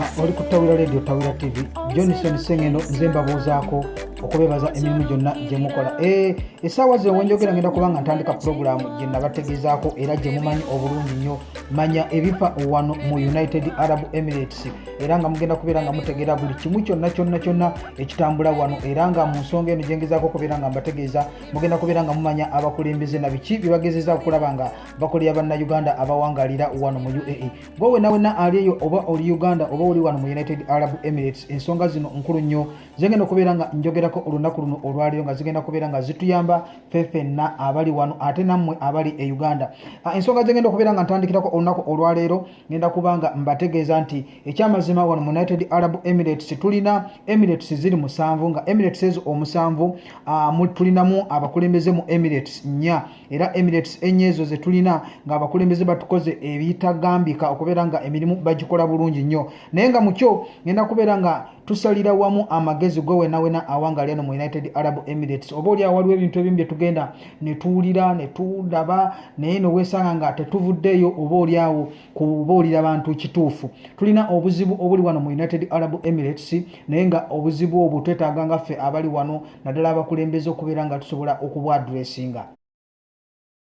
ah, oli ku tawira radio tawira tv johnson sengeno nze mbabuuzaako okubebaza emirimu gyonna gyemukola eh, esaawa ze wenjogera ngenda kubanga ntandika pulogulaamu gye nabategezaako era gye mumanyi obulungi nnyo manya ebifa wano mu united arab emirates era nga mugenda kubeera nga mutegeera buli kimu kyonna kyonna kyonna ekitambula wano era nga mu nsonga eno gyengezaako okubeera nga mbategeeza mugenda kubeera nga mumanya abakulembeze na biki bye bagezeza okulaba nga bakolera bannauganda abawangalira wano mu uae gwe wena wena ali eyo oba oli uganda oba oli wano mu united arab emirates ensonga zino nkulu nnyo zigenda okubeera nga njogerako olunaku luno olwaleero nga zigenda kubeera nga zituyamba fefenna abali wano ate nammwe abali e uganda ah, ensonga zigenda okubeera nga ntandikirako olunaku olwaleero ngenda kuba nga mbategeeza nti ekyamazima wano mu united arab emirates tulina emirates ziri musanvu nga emirates ezo omusanvu ah, tulinamu abakulembeze mu emirates nnya era emirates enye ezo zetulina ngaabakulembeze batukoze ebitagambika okubeera nga emirimu bagikola bulungi nnyo naye nga mukyo ngenda kubeera nga tusalira wamu amagezi gwe wenawena awanga lyeno mu united arab emirates oba oli awaliwo ebintu ebimu byetugenda netuwulira netulaba naye nowesanga nga tetuvuddeeyo oba oli awo kubuulira bantu kituufu tulina obuzibu obuli wano mu united arab emirates naye nga obuzibu obwo twetaaga nga ffe abali wano naddala abakulembeze okubeera nga tusobola okubwadressinga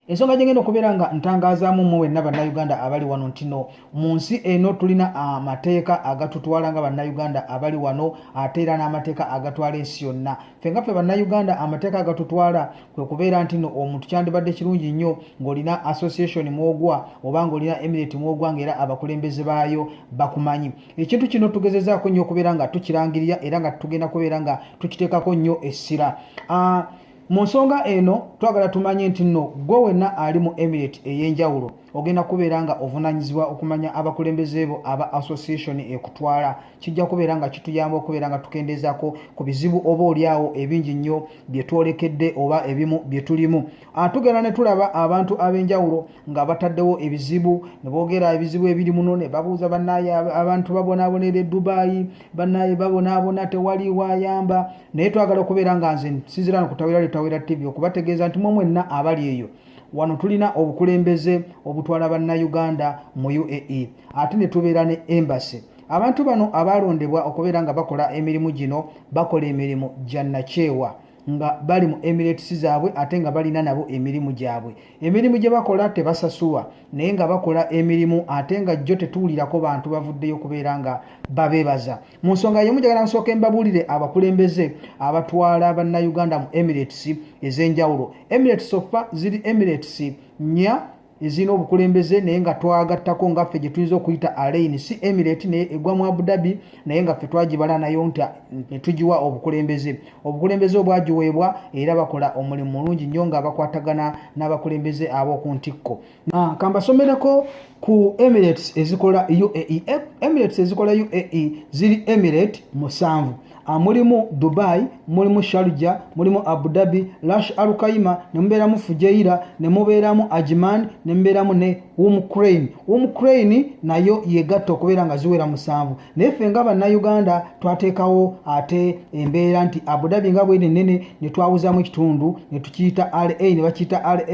ensonga gyengenda okubeera nga ntangazaamu mu wenna bannayuganda abali wano ntino mu nsi eno tulina amateeka agatutwala nga bannayuganda abali wano ate era n'amateeka agatwala ensi yonna ffe nga ffe bannayuganda amateeka agatutwala kwe kubeera nti no omuntu kyandibadde kirungi nnyo ng'olina association mwogwa oba ng'olina emirate mwogwa ngaera abakulembeze baayo bakumanyi ekintu kino tugezezaako nnyo okubeera nga tukirangirira era nga tugenda kubeera nga tukiteekako nnyo essira ah, mu nsonga eno twagala tumanye nti nno gwe wenna ali mu emirate ey'enjawulo ogenda kubeera nga ovunanyizibwa okumanya abakulembeze bo aba association ekutwala kijja kubeera nga kituyamba okubeera nga tukendeezako ku bizibu oba olyawo ebingi nnyo bye twolekedde oba ebimu bye tulimu ah, tugenda ne tulaba abantu ab'enjawulo nga bataddewo ebizibu ne boogera ebizibu ebiri muno ne babuuza bannaaye abantu babonaabonaera edubaayi bannaaye babonaabona tewali wayamba naye twagala okubeera nga nze nsinzira no kutawera lyotawera tv okubategeeza nti mwe mwenna abali eyo wano tulina obukulembeze obutwala bannayuganda mu uae ate ne tubeera ne embasi abantu bano abaalondebwa okubeera nga bakola emirimu gino bakola emirimu gya nakyewa nga bali mu emirates zaabwe ate nga balina nabo emirimu gyabwe emirimu gye bakola tebasasuwa naye nga bakola emirimu ate nga jjo tetuwulirako bantu bavuddeyo okubeera nga babeebaza mu nsonga yemu jagala nsooke mbabuulire abakulembeze abatwala bannayuganda mu emirates ez'enjawulo emirates ofa ziri emirates nya ezirina obukulembeze naye nga twagattako nga ffe gyetuyinza okuyita alain si emirate naye egwa mu abudabi naye nga ffe twagibala nayo nti netugiwa obukulembeze obukulembeze obwagiweebwa era bakola omulimu mulungi nnyo nga bakwatagana n'abakulembeze ab'oku ntikko ah, kambasomereko ku emirates ezikola uae emirates ezikola uae ziri emirate musanvu Ah, mulimu dubai mulimu sharja mulimu abu dhabi lash alukaima ne mubeeramu fujaira ne mubeeramu ajiman ne mubeeramu ne umcrain umcrain nayo yegatta okubeera nga ziwera musanvu naye ffe nga bannayuganda twateekawo ate embeera nti abu dhabi nga bwene nene ne twawuzamu ekitundu ne tukiyita ra ne bakiyita ra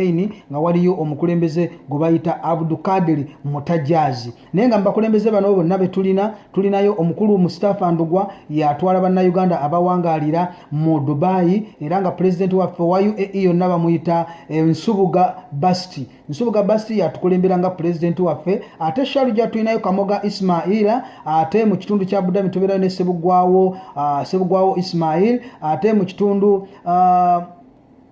nga waliyo omukulembeze gwe bayita abdukadiri mutajazi naye nga mubakulembeze bano bonna betulina tulinayo omukulu mustafa ndugwa yatwala bannayuganda abawangaalira mu dubayi era nga pulezidenti waffe wa uae yonna bamuyita eh, nsubuga basti nsubuga basti yatukulembera nga pulezidenti waffe ate shalu gyatulinayo kamoga ismaila ate mu kitundu kya budami tubeerayo ne sebugwawo ah, sebugwawo ismail ate mu kitundu ah,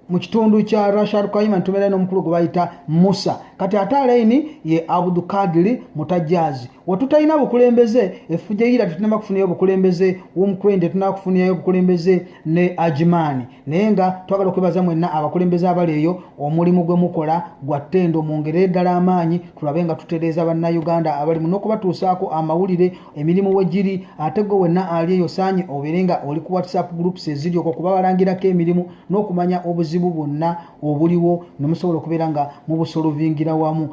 mu kitundu kya rashar kaima ntumera ino omukulu gwe bayita musa kati ate alaini ye abudukadiri mutajazi wetutalina bukulembeze efujja ira tetunaba kufunayo obukulembeze womukureni tetunaba kufuniyayo obukulembeze ne ajimaani naye nga twagala okwebaza mwenna abakulembeze abali eyo omulimu gwe mukola gwa ttendo mungere ddala amaanyi tulabe nga tutereeza bannauganda abalimu n'okubatuusaako amawulire emirimu we giri ate gwe wenna ali eyo saanye obeere nga oli ku whatsapp groups eziri okwo kuba balangirako emirimu n'okumanya obuzibu bwonna obuliwo ne musobola okubeera nga mubusolovingira wamu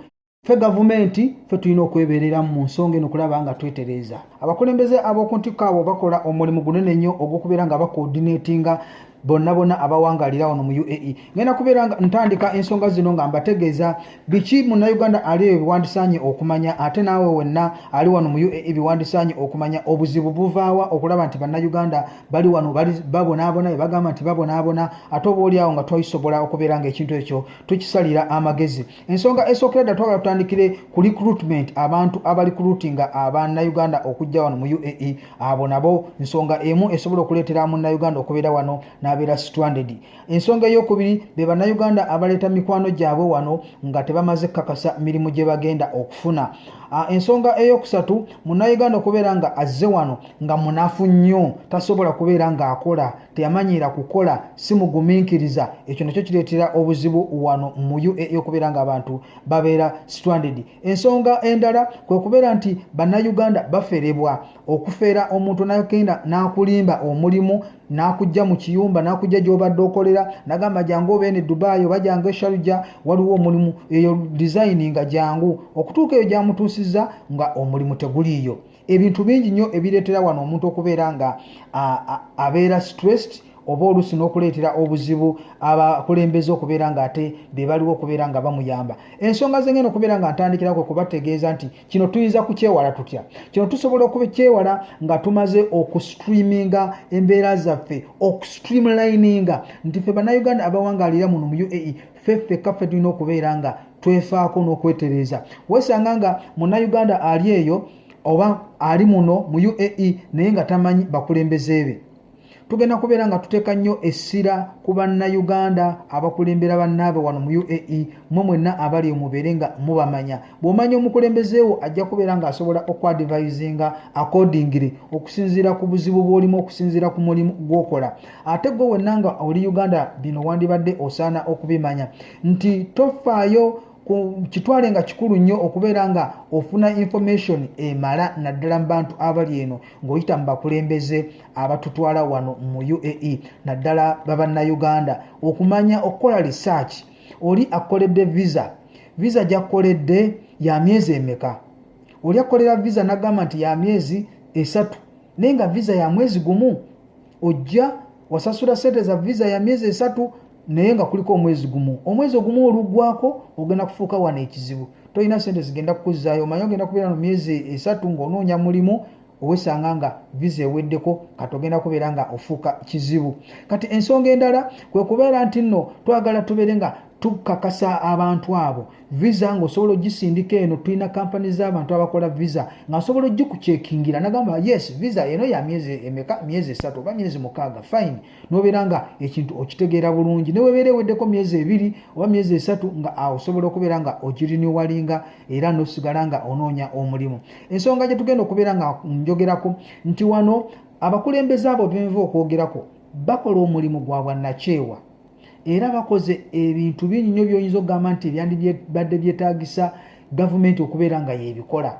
ffe gavumenti ffe tulina okwebereramu mu nsonga eno okulaba nga twetereeza abakulembeze ab'oku ntikko abo bakola omulimu gunene nnyo ogw'okubeera nga bakoodineetinga bonna bonna abawangalira wano mu uae ngenda kubeera nga ntandika ensonga zino nga mbategeeza biki munnayuganda ali eyo biwandisaanye okumanya ate naawe wenna ali wano mu uae biwandisaanye okumanya obuzibu buvaawa okulaba nti bannayuganda bali wano babonaabona be bagamba nti babonaabona ate oba oli awo nga twayisobola okubeera nga ekintu ekyo tukisalira amagezi ensonga esookera dda twagala tutandikire ku recruitment abantu abali kurutinga abanauganda okujja wano mu uae abo nabo nsonga emu esobola okuleetera munauganda okubeera wano n'abeera stranded ensonga eyokubiri be banauganda abaleeta mikwano gyabwe wano nga tebamaze kukakasa mirimu gye bagenda okufuna Ah, ensonga eyokusatu munauganda okubeera nga azze wano nga munafu nnyo tasobola kubeera ng'akola teyamanyiira kukola si mugumiikiriza ekyo nakyo kireetera obuzibu wano mu ua okubeera ngaabantu babeera stranded ensonga endala kwe kubeera nti bannayuganda baferebwa okufeera omuntu nagenda n'akulimba omulimu n'akujja mu kiyumba n'akujja gy'obadde okolera nagamba jangu obeene dubai oba jangu esharuja waliwo omulimu eyo dizayini nga jangu okutuuka eyo gyamutuusizza nga omulimu teguliiyo ebintu bingi nnyo ebireetera wano omuntu okubeera nga abeera stressed oba oluusi n'okuleetera obuzibu abakulembeze okubeera nga ate be baliwo okubeera nga bamuyamba ensonga zengenda okubeera nga ntandikirako kubategeeza nti kino tuyinza kukyewala tutya kino tusobola okukyewala nga tumaze okustreaminga embeera zaffe okustreamlininga nti fe bannayuganda abawangalira muno mu uae ffe ffekka ffe tulina okubeera nga twefaako n'okwetereeza weesanga nga munnayuganda ali eyo oba ali muno mu uae naye nga tamanyi bakulembeze be tugenda kubeera nga tuteeka nnyo essira ku bannayuganda abakulembera bannaabe wano mu uae mwe mwenna abali omubeere nga mubamanya bw'omanya omukulembezeewo ajja kubeera ng'asobola okuadivisinga akordingire okusinziira ku buzibu bw'olimu okusinziira ku mulimu gw'okola ate gwe wenna nga oli uganda bino wandibadde osaana okubimanya nti tofaayo kitwale nga kikulu nnyo okubeera nga ofuna information emala naddala mu bantu abali eno ng'oyita mu bakulembeze abatutwala wano mu uae naddala babannayuganda okumanya okukola research oli akkoledde visa visa gyakkoledde ya myezi emeka oli akkolera visa nagamba nti ya myezi esatu naye nga visa ya mwezi gumu ojja wasasula sente za visa ya myezi esatu naye nga kuliko omwezi gumu omwezi ogumu olugwako ogenda kufuuka wano ekizibu tolina sente zigenda kukuzaayo omanye ogenda kubeera no myezi esatu ngaonoonya mulimu owesanga nga visa eweddeko kati ogenda kubeera nga ofuuka kizibu kati ensonga endala kwe kubeera nti nno twagala tubeere nga tukakasa abantu abo visa ngaosobola ogisindika eno tulina kampani z'abantu abakola visa ngaosobola ogikucekingira nagamba yes visa eno ya myezi emeka myezi esatu oba myezi mukaaga fine nobeera nga ekintu okitegeera bulungi newebeera eweddeko myezi ebiri oba myezi esatu nga osobola okubeera nga okiriniwalinga era nosigala nga onoonya omulimu ensonga gyetugenda okubeera nga njogerako nti wano abakulembeze abo benva okwogerako bakola omulimu gwa bwannakyewa era bakoze ebintu bingi nyo byoyinza okugamba nti ebyandibadde byetagisa gavumenti okubeera nga yebikola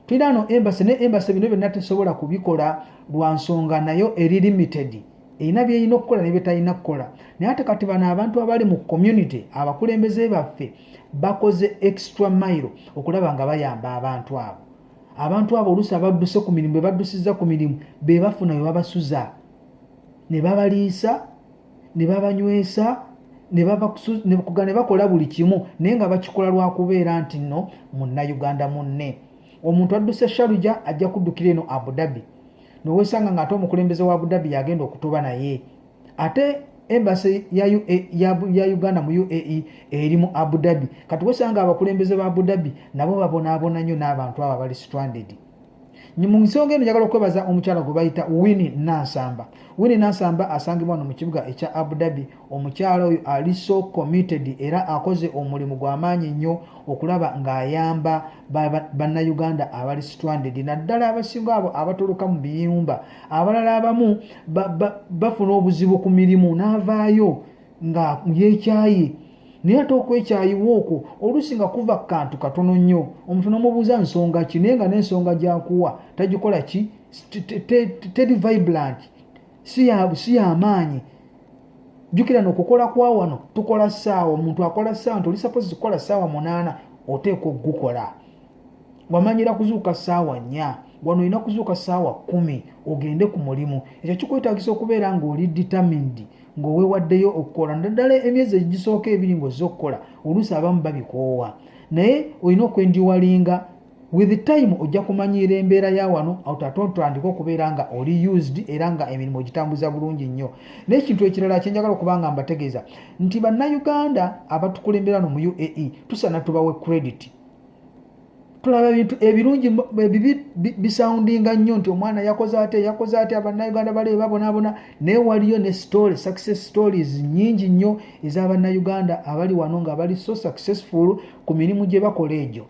tulina no embassy ne embassy bino byonna tesobola kubikola lwa nsonga nayo eri limited erina byerina okukola ne byetalina kukola naye ate kati bano abantu abali mu community abakulembeze baffe bakoze extra mile okulaba nga bayamba abantu abo abantu abo oluusi abadduse ku mirimu bebaddusizza ku mirimu bebafuna webabasuza ne babaliisa ne babanywesa nekuga ne bakola buli kimu naye nga bakikola lwakubeera nti no munnayuganda munne omuntu adduse sharuja ajja kuddukira eno abudabi nowesanga nga ate omukulembeze wa abudabi yagenda okutoba naye ate embasi ya, e, ya, ya uganda mu uae eri mu abudabi kati wesanga abakulembeze ba abudabi nabo babonaabona nnyo n'abantu abo abali stranded mu nsonga eno njagala okwebaza omukyala gwe bayita wini nansamba wini nansamba asangibwa wano mu kibuga ekya abu dhabi omukyala oyo ali so committed era akoze omulimu gw'amaanyi nnyo okulaba ng'ayamba bannayuganda abali stranded naddala abasinga abo abatoloka mu biyumba abalala abamu bafuna obuzibu ku mirimu n'avaayo nga yekyaye naye ate okwekyayiwa okwo oluusi nga kuva ku kantu katono nnyo omuntu nomubuuza nsonga ki naye nga n'ensonga gyakuwa tagikola ki teri vibrant si yamaanyi jukira nokukola kwa wano tukola saawa omuntu akola saawa nti oli suppose kukola saawa munaana oteeka okugukola wamanyira kuzuuka saawa nnya wano olina kuzuuka saawa kumi ogende ku mulimu ekyo kikwetagisa okubeera ngaoli determined ng'owewaddeyo okukola naddala emyezi egisooka ebiri ng'ozze okukola oluusi abamu babikoowa naye olina okwendiwalinga with time ojja kumanyiira embeera ya wano atatotandika okubeera nga oli used era nga emirimu ogitambuza bulungi nnyo n'ekintu ekirala kyenjagala okuba nga mbategeeza nti bannayuganda abatukulembera no mu uae tusana tubawe credit tulaba ebintu ebirungi ebibi bisoundinga nnyo nti omwana yakoze ate yakoze ate abannayuganda baleyo babonabona naye waliyo ne story success stories nyingi nnyo ez'abannayuganda abali wano nga bali so successful ku mirimu gye bakola egyo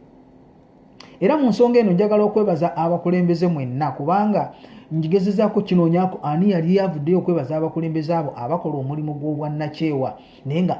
era mu nsonga eno njagala okwebaza abakulembeze mwenna kubanga njigezezaako kinoonyako ani yali avuddeyo okwebaza abakulembeze abo abakola omulimu gw'obwannakyewa naye nga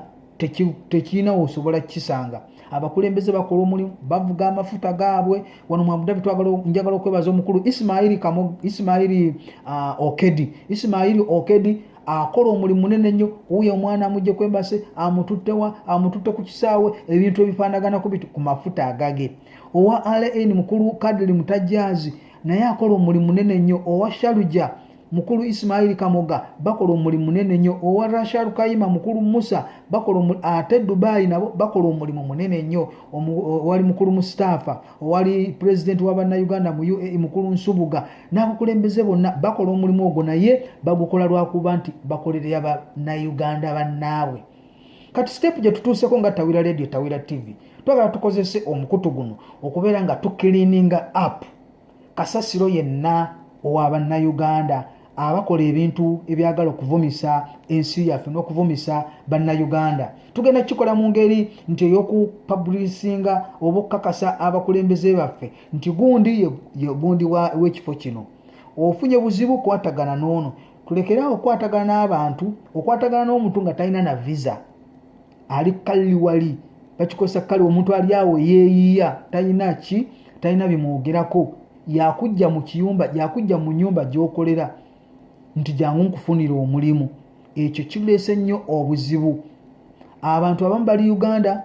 tekirina wosobola kukisanga abakulembeze bakola omulimu bavuga amafuta gaabwe wano mwabudabi njagala okwebaza omukulu isimaili isimaili uh, okedi isimaili okedi akola omulimu munene nnyo wuyo omwana amugje kwembase amututtewa amututte ku kisaawe ebintu ebifaanaganaku biti ku mafuta agage owa rn mukulu kadili mutajjazi naye akola omulimu munene nnyo owa shaluja mukulu isimaili kamoga bakola omulimu munene nnyo owa rashar kayima mukulu musa bakola ate dubai nabo bakola omulimu munene nnyo owali mukulu mustafa owali pulezidenti wa bannayuganda mu uae mukulu nsubuga n'abakulembeze bonna bakola omulimu ogwo naye bagukola lwakuba nti bakolerera bannayuganda bannaabwe kati siteepu gye tutuuseko nga tawira radio tawira tv twagala tukozese omukutu guno okubeera nga tukiliininga app kasasiro yenna owa bannayuganda abakola ebintu ebyagala okuvumisa ensi yaffe n'okuvumisa bannayuganda tugenda kukikola mu ngeri nti ey'okupabulisinga oba okukakasa abakulembeze baffe nti gundi yegundi w'ekifo kino ofunye buzibu kwatagana n'ono tulekeraawo okukwatagana n'abantu okwatagana n'omuntu nga talina na visa ali kalli wali bakikozesa kale omuntu ali awo yeeyiya talina ki talina bimwogerako yakujja mu kiyumba yakujja mu nyumba gyokolera nti jangu nkufunira omulimu ekyo kileese nnyo obuzibu abantu abamu bali uganda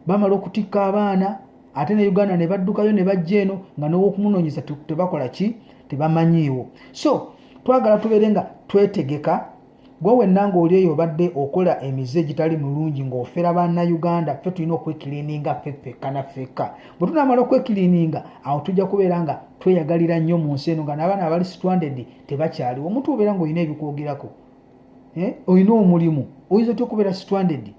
bamala okutikka abaana ate ne uganda ne baddukayo ne bajja eno nga n'owokumunoonyeza tebakola ki tebamanyiiwo so twagala tubeere nga twetegeka gwe wenna ng'oli eyo obadde okola emize egitali mulungi ng'ofera bannayuganda ffe tulina okwekiliininga ffe ffekka na ffekka bwe tunaamala okwekiliininga awo tujja kubeera nga tweyagalira nnyo mu nsi eno nga n'abaana abali situandedi tebakyaliwo omuntu obeera ng'olina ebikwogerako eh, olina omulimu oyinza otya okubeera situandedi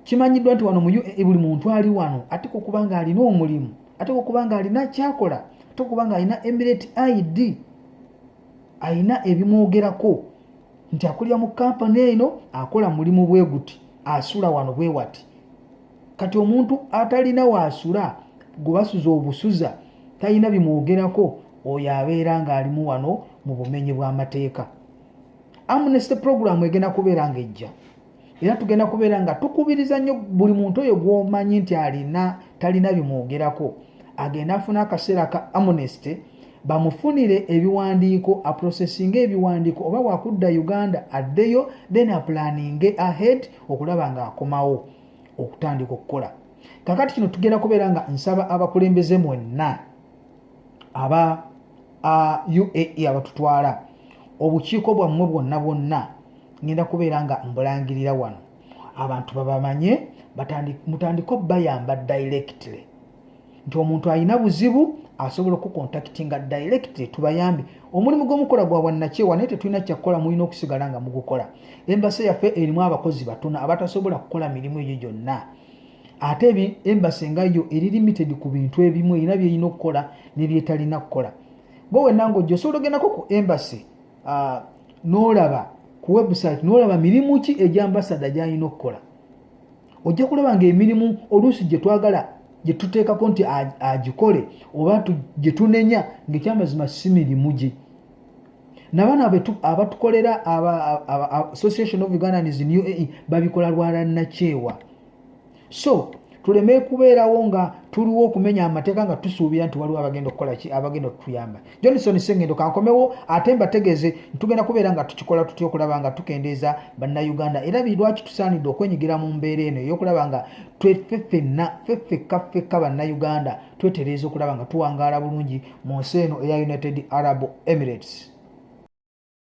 kimanyiddwa nti wano muyo eh, buli muntu ali wano ate kokuba nga alina omulimu ate kokuba nga alina kyakola ate kokuba nga alina emirate id alina ebimwogerako nti akulira mu kampani eno akola mulimu bwe guti asula wano bwe wati kati omuntu atalina waasula gwe basuza obusuza talina bimwogerako oyo abeera ng'alimu wano mu bumenyi bw'amateeka amnesty puroguramu egenda kubeera ng'ejja era tugenda kubeera nga tukubiriza nnyo buli muntu oyo gwomanyi nti alina talina bimwogerako agenda afuna akaseera ka amnesty bamufunire ebiwandiiko aprosesinge ebiwandiiko oba wakudda uganda addeyo then aplaninge ahead okulaba nga akomawo okutandika okukola kakati kino tugenda kubeera nga nsaba abakulembeze mwenna aba uae abatutwala obukiiko bwammwe bwonna bwonna ngenda kubeera nga mbulangirira wano abantu babamanye mutandike obayamba directly nti omuntu alina buzibu asobola okukontakitinga direct tubayambe omulimu gwomukola gwa bwannakyewa naye tetulina kyakukola mulina okusigala nga mugukola embase yaffe erimu abakozi batono abatasobola kukola mirimu egyo gyonna ate embasi nga yo eri limited ku bintu ebimu erina byerina okukola nebyetalina kukola gwe wenna ngaojja osobola ogendako ku embasi uh, nolaba ku website nolaba mirimu ki egyambasada gyalina okukola ojja kulaba nga emirimu oluusi gyetwagala gyetuteekako nti agikole oba gyetunenya ngaekyamazima si mirimu gye nabano abatukolera association of ugandans new ae babikola lwalanakyewa so tuleme kubeerawo nga tuliwo okumenya amateeka nga tusuubira nti waliwo abagenda okukola ki abagenda okutuyamba johnson sengendo kankomewo ate mbategeeze ntugenda kubeera nga tukikola tutya okulaba nga tukendeeza bannayuganda era lwaki tusaanidde okwenyigira mu mbeera eno eyokulaba nga tweffe fenna feffekka ffekka bannayuganda twetereeza okulaba nga tuwangaala bulungi mu nsi eno eya united arab emirates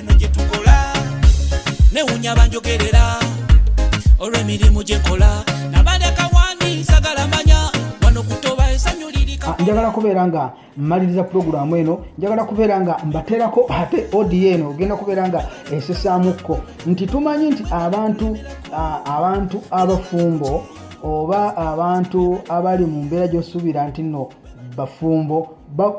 eno gye tukola newunya banjogerera olw'emirimu gye nkola njagala kubeera nga mmaliriza pulogulaamu eno njagala kubeera nga mbateerako ate odio eno ogenda kubeera nga esesaamukko nti tumanyi nti abantu abantu abafumbo oba abantu abali mu mbeera gyosuubira nti no bafumbo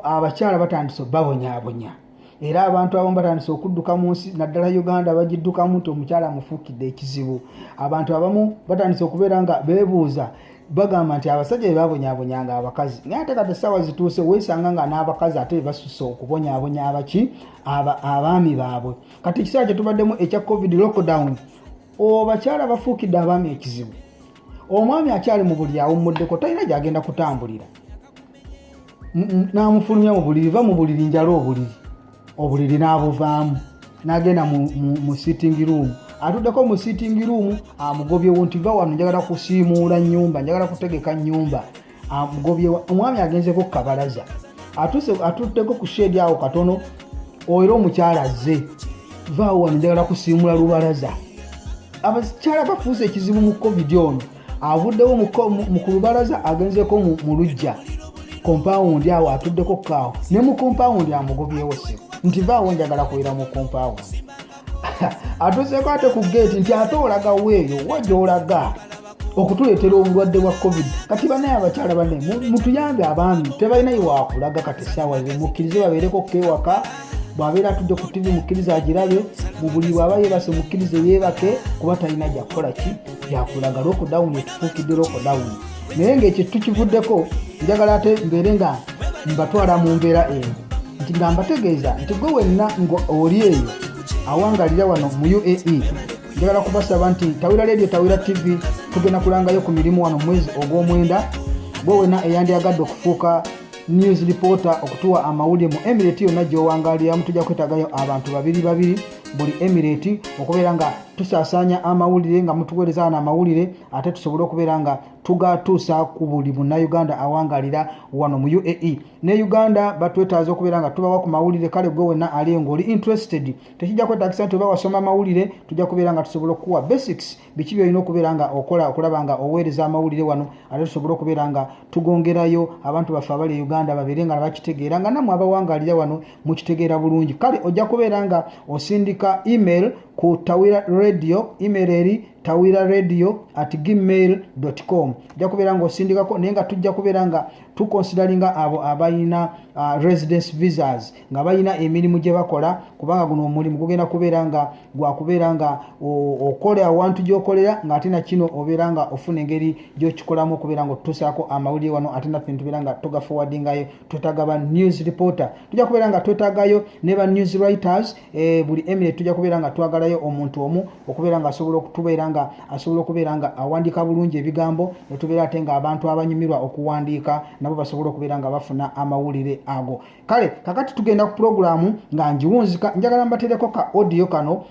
abakyala batandise babonyabonya era abantu abamu batandise okudduka mu nsi naddala uganda bagiddukamu nti omukyala amufuukidde ekizibu abantu abamu batandise okubeera nga beebuuza bagamba nti abasajja bebabonyabonyanga abakazi naye ate kati essaawa zituuse weesanga nga n'abakazi ate bebasusa okubonyabonya abaki abaami baabwe kati ekiseera kyetubaddemu ekya covid lockdown obakyala bafuukidde abaami ekizibu omwami akyali mu buli awummuddeko talina gyagenda kutambulira n'amufulumya mu buliri va mu buliri njala obuliri obuliri n'abuvaamu n'agenda mu sitting room atuddeko mu sitting room amugobyewo nti va wano njagala kusiimuula nyumba njagala kutegeka nyumba amugobyewo omwami agenzeko ku kabalaza atutteko ku sheedi awo katono oera omukyala azze vaawo wano njagala kusiimula lubalaza abakyala bafuuse ekizibu mu covid ono avuddewo mu ku lubalaza agenzeko mu lujja kompawundi awo atuddeko kaawo ne mu kompawundi amugobyewo sebo nti vaawo njagala kubeera mu kompawundi atuseeko ate ku geeti nti ate olaga weeyo wajoolaga okutuleetera obulwadde bwa covid kati banaye abakyala bane mutuyambe abaami tebalina iwakulaga kati saawa ze mukkirize babeereko kewaka bwabeera atudde ku tivi mukkirize agirabe mu buli bwaba yebase mukkirize yeebake kuba talina jakukola ki yakulaga lockdown etufuukidde lockdown naye ngaekyo tukivuddeko njagala ate mbeere nga mbatwala mu mbeera eyo nti nga mbategeeza nti gwe wenna nga oli eyo awangalira wano mu uae njagala kubasaba nti tawira ledio tawira tv tugenda kulangayo ku mirimu wano mwezi ogw'omwenda gwe wenna eyandyagadde okufuuka news reporter okutuwa amawulire mu emirate yonna gyowangaliramu tujja kwetagayo abantu babiri babiri buli emirate okubeera nga tusaasaanya amawulire nga mutuweereza wano amawulire ate tusobole okubeera nga tugatuusa ku buli munnayuganda awangalira wano mu uae ne uganda batwetaaza okubeera nga tubawa ku mawulire kale gwe wenna ali ngaoli interested tekijja kwetagisa nti oba wasoma amawulire tujja kubeera nga tusobola okukuwa basics biki byolina okubeera nga okola okulaba nga oweereza amawulire wano ate tusobole okubeera nga tugongerayo abantu baffe abali e uganda babeere nga nabakitegeera nga namwe abawangalira wano mukitegeera bulungi kale ojja kubeera nga osindika email ku tawira radio email eri tawira radio at gmail com ojja kubeera nga osindikako naye nga tujja kubeera nga tukonsidalinga abo abalina uh, residence visas nga balina emirimu gye bakola kubanga guno omulimu gugenda kubeera nga gwakubeera nga okola awantu gyokolera ngaate nakino obeera nga ofuna engeri gyokikolamu okubeera nga otutusaako amawulire wano ate naffe nitubeera nga tugafowadingayo twetaga ba news reporter tujja kubeera nga twetagayo ne ba news writers e, buli eminute tujja kubeera nga twagalayo omuntu omu okubeera nga asobola okutubeera nga asobola okubeera nga awandiika bulungi ebigambo netubeera ate nga abantu abanyumirwa okuwandiika nabo basobola okubeera nga bafuna amawulire ago kale kakati tugenda ku pulogulaamu nga ngiwunzika njagala mbatereko ka odiyo kano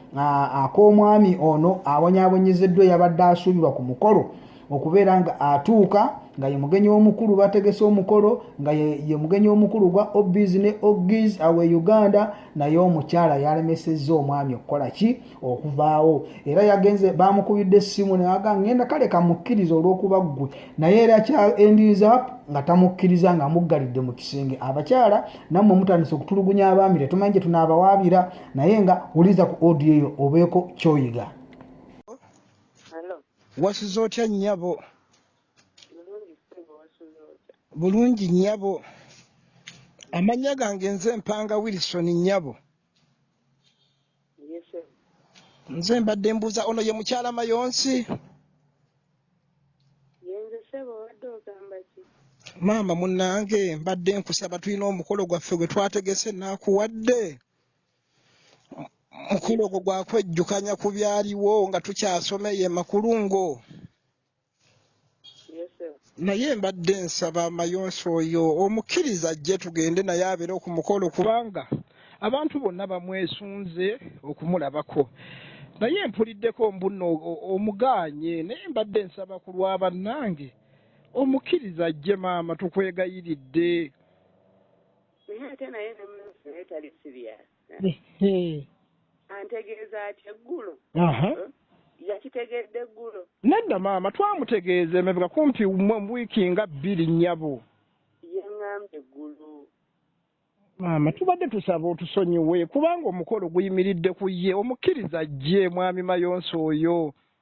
ak'omwami ono abonyabonyezeddwa eyabadde asuubirwa ku mukolo okubeera nga atuuka nga ye mugenyi omukulu bategese omukolo nga ye mugenyi omukulu gwa obis ne ogis awe uganda naye omukyala yalemesezza omwami okukola ki okuvaawo era yagenze bamukubidde essimu newaga ngenda kale kamukkiriza olwokuba ggwe naye era kya endinza nga tamukkiriza nga amuggalidde mu kisenge abakyala nammwe mutandise okutulugunya abaami tetumanyi gye tunaabawaabira naye nga wuliza ku odiyo eyo obeeko kyoyiga Wasuze otya nnyabo? Bulungi ssebo, wasuze otya? Bulungi nnyabo. Amannya gange nze Mpanga Wilson nnyabo. Ye ssebo. Nze mbadde mbuuza ono ye mukyala Mayonsi? Ye nze ssebo, obadde ogamba ki? Maama munnange mbadde nkusaba tulina omukolo gwaffe gwe twategese naakuwadde. mukolo ogwo gwa kwejjukanya ku byaliwo nga tukyasoma eyo emakulungo naye mbadde nsaba amayonsi oyo omukkiriza ajje tugende naye abeere ku mukolo kubanga abantu bonna bamwesunze okumulabako naye mpuliddeko mbuno omugaanye naye mbadde nsaba ku lwa bannange omukkiriza ajje maama tukwegayiridde naye ate naye ne munsi naye tali serious antegeeza atya eggulo yakitegedde eggulo nedda maama twamutegeeza emabega kumpi wiiki nga bbiri nnyabo yaŋŋambye eggulu maama tubadde tusaba otusonyiwe kubanga omukolo guyimiridde ku ye omukkiriza ajje mwami mayonsi oyo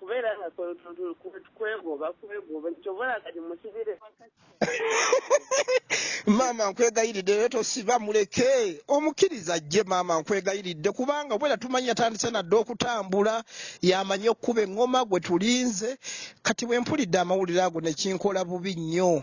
Kubeera nga kwe- tu- tu- kwe- kwegoba kwegoba nti kyova olaba kati musibire maama nkwegayiridde naye tosiba muleke omukiriza ajje maama nkwegayiridde kubanga obwera tumanyi yatandise nadde okutambula yamanyi okukuba eŋŋoma gwe tulinze kati bwe mpulidde amawulire ago nekinkola bubi nnyo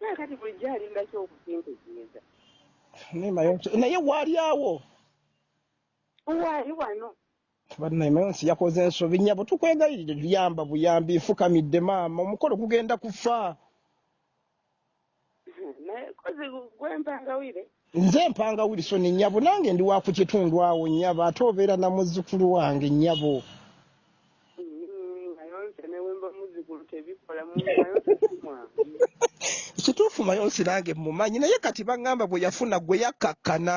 Kaakati bulijjo alinda ki okukintegeeza? Naye Mayonsi, naye waali awo. Waali wano. Bannaye Mayonsi yakoze ensobi nyabo, tukwegayirire tuyamba buyambi, nfukamidde maama, omukolo gugenda kufa. Naye kozi gwempangawire. Nze mpanga Wilson nnyabo nange ndi wa ku kitundu awo nnyabo ate obeera na muzzukulu wange nnyabo. Kituufu Mayonsi nange mmumanyi naye kati baŋŋamba bwe yafuna gwe yakkakkana.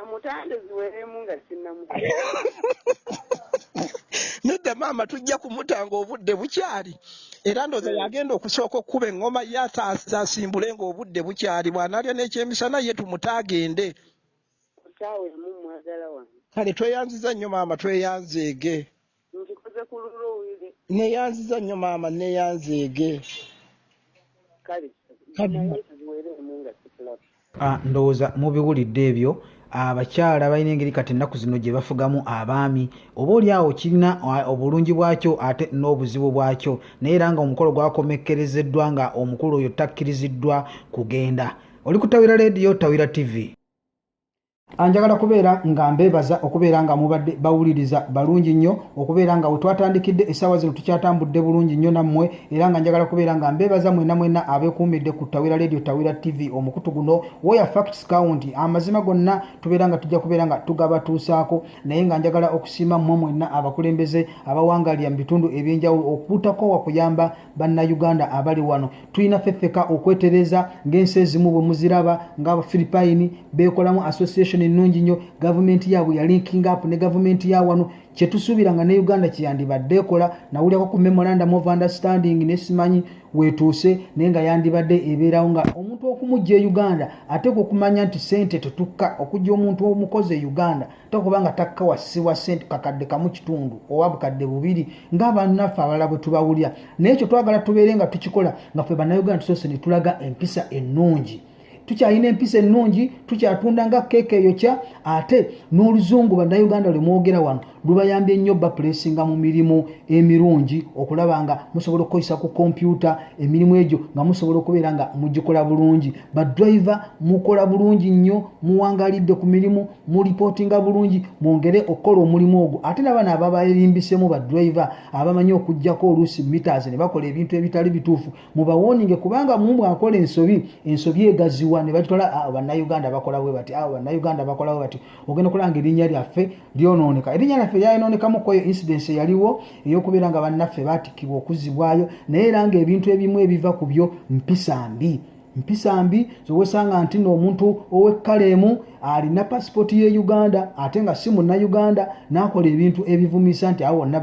amutande ziweremu nga sinnamu nedda maama tujja kumutanga obudde bukyali era ndoza hmm. yagenda okusooka okukuba eŋŋoma ye asimbule nga obudde bukyali bwanalya n'ekyemisana ye tumuta agende kale tweyanziza nnyo maama tweyanzeege Nkikoze ku lulwo Willy. Neyanziza nnyo maama neyanzeege. Kale naye tuziwereemu nga sikulaba. Ah ndowooza mubiwulidde ebyo abakyala balina engeri kati ennaku zino gye bafugamu abaami oba oli awo kirina obulungi bwakyo ate n'obuzibu bwakyo naye era nga omukolo gwakomekkerezeddwa nga omukulu oyo takkiriziddwa kugenda oli kutawira leediyo tawira tivi anjagala kubeera nga mbeebaza okubeera nga mubadde bawuliriza balungi nnyo okubeera nga wetwatandikidde essaawa zino tukyatambudde bulungi nnyo nammwe era nga njagala kubeera nga mbeebaza mwena mwena abekuumidde ku tawira leediyo tawira tv omukutu guno woya facts count amazima gonna tubeera nga tujja kubeera nga tugabatuusaako naye nga njagala okusiima mmwe mwenna abakulembeze abawangalira mu bitundu ebyenjawulo okutakowa kuyamba bannayuganda abali wano tulina fefeka okwetereza ng'ensi ezimu bwe muziraba ng'abafiripayini beekolamu association ennungi nnyo gavumenti yaabwe ya linking up ne gavumenti ya wano kyetusuubira nga ne uganda kyeyandibadde ekola nawulirako ku memorandum of understanding nesimanyi wetuuse naye nga yandibadde ebeerawo nga omuntu okumujja e uganda ateeka okumanya nti sente tetukka okujja omuntu omukozi e uganda tokuba nga takka wasiwa sente kakadde kamu kitundu oba bukadde bubiri nga bannaffe abalala bwe tubawulira naye ekyo twagala tubeere nga tukikola nga ffe bannayuganda tusoose ne tulaga empisa ennungi tukyalina empisa ennungi tukyatunda nga keeka eyokya ate n'oluzungu bannayuganda lwe mwogera wano lubayambye nnyo bapulesinga mu mirimu emirungi okulaba nga musobola okukozesa ku kompyuta emirimu egyo nga musobola okubeera nga mugikola bulungi badriver mukola bulungi nnyo muwangalidde ku mirimu mulipootinga bulungi mwongere okukola omulimu ogwo ate nabana ababaerimbisemu badriver abamanyi okujjako oluusi mitas ne bakola ebintu ebitali bituufu mubawoninge kubanga mumbwe akola ensobi ensobi egaziwa ne bagitwala awo bannauganda bakola bwe bati awo bannauganda bakola bwe bati ogenda okulanga erinnya lyaffe lyonooneka erinnya lyaffe lyayonoonekamu kweyo incidence eyaliwo ey'okubeera nga bannaffe batikkibwa okuzibwayo naye era nga ebintu ebimu ebiva ku byo mpisa mbi mpisa mbi zowesanga nti noomuntu owekkala emu alina pasipooti ye uganda ate nga si munnayuganda n'akola ebintu ebivumisa nti awo wonna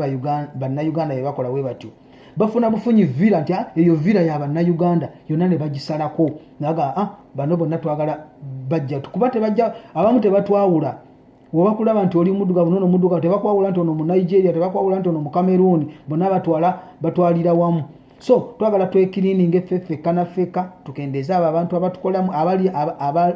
bannayuganda bye bakola we batyo bafuna bufunyi vira nti ah, eyo vira ya bannayuganda yonna ne bagisalako naga ah, bano bonna twagala bajja kuba tebajja abamu tebatwawula obakulaba nti oli muddugavu nono muddugavu tebakwawula nti ono mu nigeria tebakwawula nti ono mu cameroon bonna batwala batwalira wamu so twagala twekilininge ffeffekka naffekka tukendeeze abo abantu abatukolamu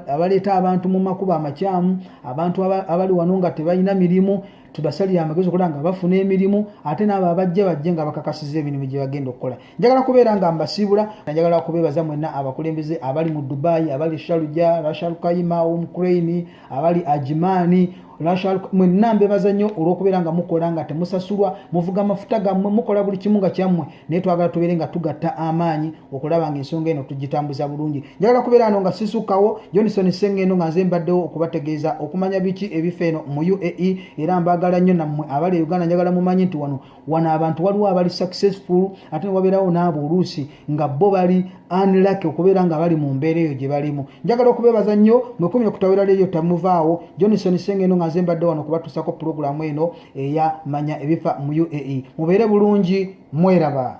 abaleeta abantu mu makubo amakyamu abantu abali wano nga tebalina mirimu tubasalire amagezi okulaba nga bafuna emirimu ate naabo abajja bajje nga bakakasiza emirimu gye bagenda okukola njagala kubeera nga mbasiibula njagala kubeebaza mwenna abakulembeze abali mu dubai abali shaluja rashalkaima omcrain abali ajimani mwenna mbebaza nnyo olwokubeera nga mukola nga temusasulwa muvuga amafuta gammwe mukola buli kimu nga kyammwe naye twagala tubeere nga tugatta amaanyi okulaba nga ensonga eno tugitambuza bulungi njagala kubeera ano nga sisukawo jonison sengendo nga nze mbaddewo okubategeeza okumanya biki ebifa eno mu uae era mbaagala nnyo nammwe abali e uganda njagala mumanyi nti wano wano abantu waliwo abali successful ate newabeerawo naabo oluusi nga bo bali anlaki okubeera nga bali mu mbeera eyo gye balimu njagala okubeebaza nnyo mwekumi okutawera leeyo tamuvaawo johnson senge eno nga nze mbadde wano kubatuusako pulogulaamu eno eya manya ebifa mu uae mubeere bulungi mweraba